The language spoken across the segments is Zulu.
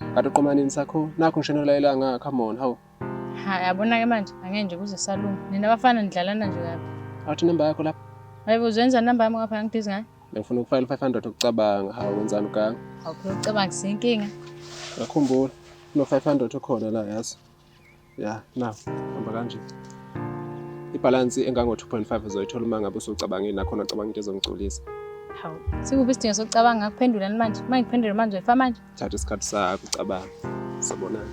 Kanti uqomanini sakho nakho ngishona kulayela ngaka come on hawu. Ha yabona ke manje angenje kuze salunga. Nina bafana nidlalana nje kabi. Awuthi number yakho lapha. Hayibo uzenza number yami ngapha ngidizi ngayo. Ngifuna ukufayela 500 ukucabanga hawu wenzani ukanga. Awuphela ucabanga sinkinga. Ngakhumbula no 500 okhona la yazi. ya na hamba kanje ibhalansi engango-2.5 uzoyithola uma ngabe usucabangile nakhona ucabanga into ezongigculisa hawu sikuphi isidingo sokucabanga ngakuphendulani manje uma ngikuphendule manje uyifa manje thatha isikhathi sakho ucabanga sobonana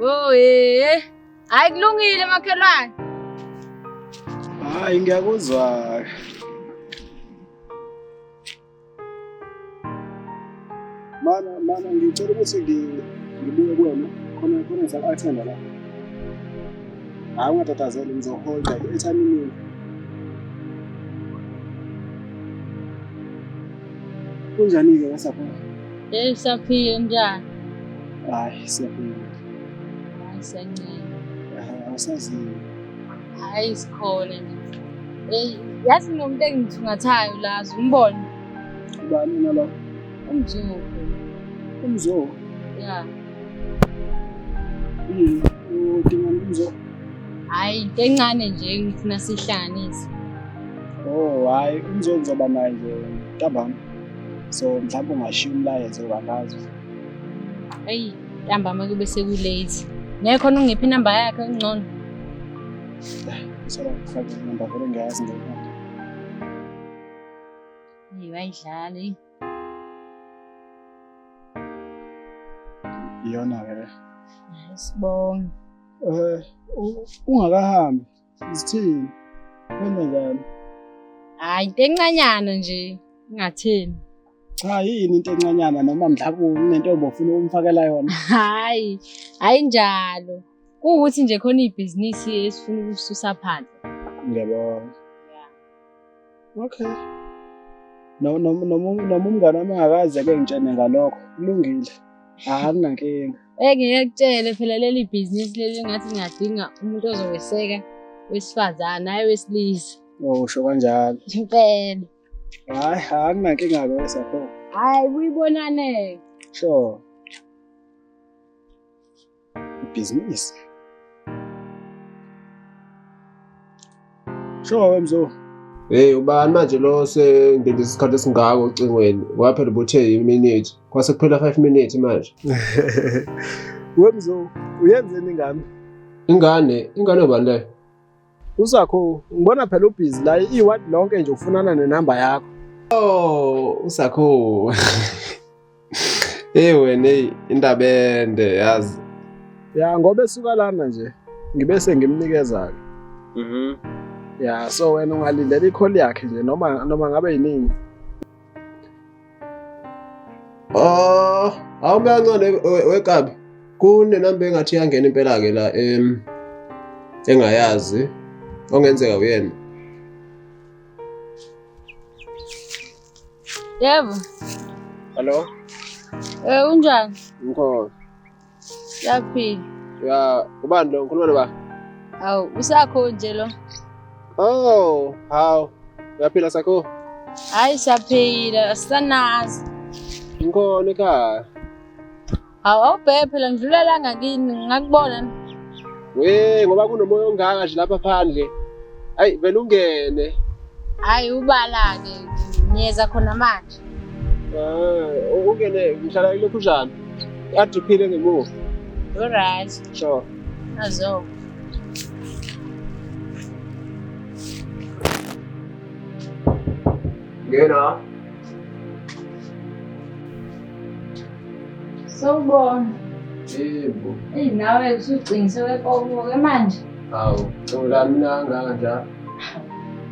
Oh eh. Hayi kulungile makhelwane. Hayi ngiyakuzwa. Mana mana ngicela ukuthi ngibuye kuwena khona khona ngisakuthanda la. Hayi ungatatazeli ngizoholda ethanini. Kunjani-ke kasaphila? Hey, saphila unjani? Hayi, siyaphila. Hayi, siyancela. Awusaziyo. Hayi, sikhona nje. Hey, yazi nomuntu engithungathayo la, umbone. Ubani nalo? Umzungu. Umzungu? Ya. Yini? Udinga umzungu? Hayi, into encane nje ngifuna sihlanganise. Oh hayi umzonzi uzoba naye nje ntambama. So mhlawumbe ungashiya umlayezo kangazi. Ayi ntambama kube sekulate. Ngeke khona ungiphi inamba yakhe ngcono. Ngisaba kufaka inamba vele ngiyazi ngeke. Hey bayidlala hey. Iyona ke. Sibonge. Eh ungakahambi Sithini? Wena njani? Hayi into encanyana nje ingatheni. Cha yini into encanyana noma mhlawumbe unentombi ofuna ukumfakela yona. Hayi, hayi njalo. Kuwukuthi nje khona ibhizinisi esifuna ukususa phansi. Ngiyabona. Okay. Noma noma umngane wami akaze ke ngitshene ngalokho. Kulungile. Akunankinga. Engeke kutshele phela leli bhizinisi leli ngathi ngingadinga umuntu ozoweseka wesifazane hayi wesilisa. Oh, usho kanjalo. Impela. Hayi, akunankinga ke wesakhona. Hayi, kuyibonane. Sure. ibhizinisi. Sure wemzo. Hey ubani manje lo sendinde isikhathi esingako ocingweni waphela ubuthe iminute kwase kuphela 5 minutes manje. Wemzo uyenzeni ngami? Ingane, ingane ubani leyo? Usakho ngibona phela ubhizi la iward lonke nje ufunana nenamba yakho. Oh, usakho. Hey wena hey indaba ende yazi. Ya ngoba esuka lana nje ngibe sengimnikeza ke. Mhm. Ya so wena ungalindela ikholi yakhe nje noma noma ngabe yinini. Ah, awukancane wekabi. Kunenamba engathi yangena impela ke la em engayazi ongenzeka uyena. Yebo. Hello. Eh unjani? Ngikho. Yaphi? Ya, ubani lo? Ngikhuluma noba? Awu, usakho nje lo. Oh, hawu. Uyaphila sakho? Hayi siyaphila, asanazi. Ngikhona ekhaya. Hawu, awubheke phela ngidlula la ngakini, ngakubona. We, ngoba kunomoya ongaka nje lapha phandle. Ayi, vele ungene. Hayi ubala-ke, ngiyeza khona manje. Ah, ungene ngihlala ilokhujana. Adiphile ngemuva. Alright. Sure. Azo. Ngena. Sawubona. Yebo. Eyi nawe usucingise wepokoke manje. Hawu, cula mina kangaka njalo.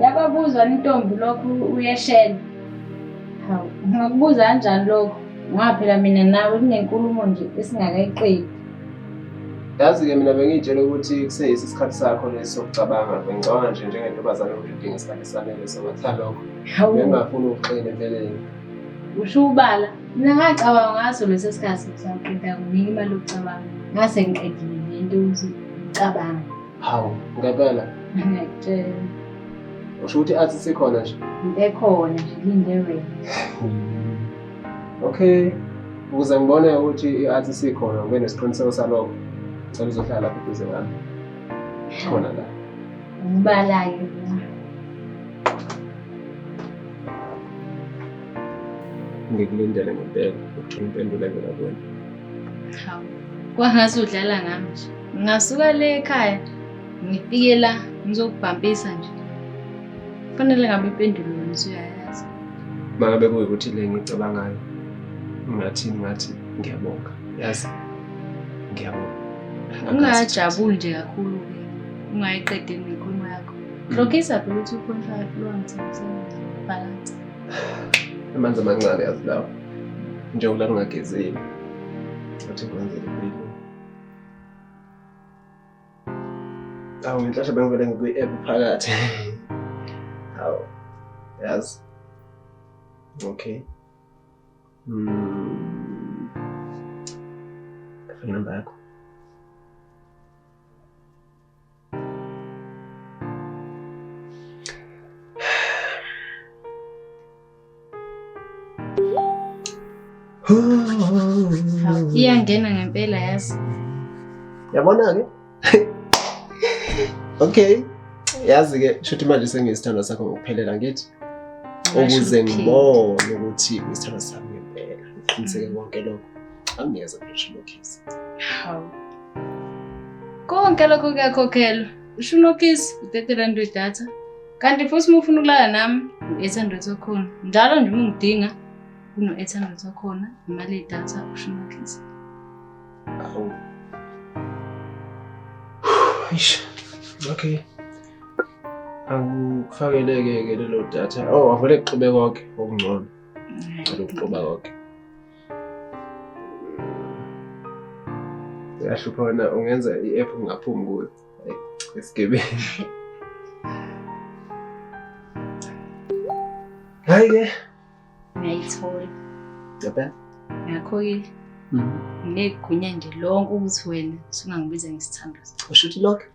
Yababuzwa intombi lokhu uyeshela. Hawu, ngingakubuza kanjani lokho? Ngoba phela mina nawe kunenkulumo nje esingakayiqedi. Yazi-ke mina bengiyitshela ukuthi kuseyisi isikhathi sakho lesi sokucabanga. Bengicabanga nje njengentombazane ukuthi udinga isikhathi esanele sokwetha lokho. Hawu, Bengingafuni ukuxina empeleni. usho ubala. Mina ngacabanga ngaso leso sikhathi ngisaqeda kunika imali yokucabanga. Ngase ngiqedile le nto ukuthi ngicabanga. Hawu, ngempela. Ngiyakutshela. Usho ukuthi athi sikhona nje. Ekhona nje linde wena. Okay. Ukuze ngibone ukuthi i-athi sikhona ngibe nesiqiniseko salokho. Ngicela uzohlala lapha eduze kwami. Khona la. Ngibalayo. Ngikulindele ngempela ukuthola impendulo evela kuwena. Hawu. Kwangathi udlala ngami nje. Ngingasuka le ekhaya ngifike la ngizokubhampisa nje. Kufanele ngabe impendulo yona usuyayazi. Uma ngabe kuyikuthi le ngicabangayo ngathi ngathi ngiyabonga yazi ngiyabonga. Ungajabuli nje kakhulu ke ungayiqedeli nenkulumo yakho. Mm. Rogisa vele uthi ukhontra lwanzi balance. Amanzi amancane yazi lawo. Njengoba lungagezeli. Athi kwenzele impilo. Awu inhlashe bengivele ngikwi-app phakathi. Awu. Yazi. Okay. Mm. Phone number yakho. Iyangena ngempela yazi. Yabona ke? Okay. Yazi ke shuthi manje sengiyisithandwa sakho ngokuphelela ngithi ukuze ngibone ukuthi isithandwa sami ngempela ngiqiniseke konke lokho. Angiyeza ngisho lokhizi. Haw. Konke lokho kuyakhokhelwa. Usho unokhizi u-30 rand wedatha. Kanti futhi uma ufuna ukulala nami u-800 wakhona. Njalo nje uma ungidinga uno-800 wakhona imali yedatha usho unokhizi. Hawu. Eish. Okay. Angikufakeleke ke lelo datha. Oh, avele kuxube konke okungcono. Ngicela ukuxuba konke. uyahlupha wena ungenza i-app ungaphumi kuyo esigebeni hayi ke ngiyayithola yabona ngakho-ke mhm. ngineyigunya nje lonke ukuthi wena sungangibiza ngesithando usho ukuthi lonke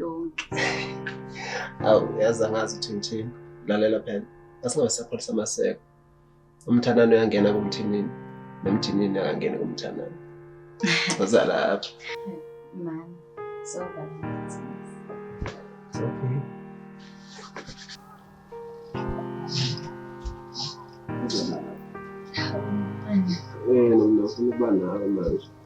lonke awu yazi angazi ukuthi ngithini lalela phela asingabe sapholisa amaseko umthanani uyangena kumthinini nomthinini akangeni kumthanani uza lapho mani so okay Eh, nomntu ufuna ukuba nawe manje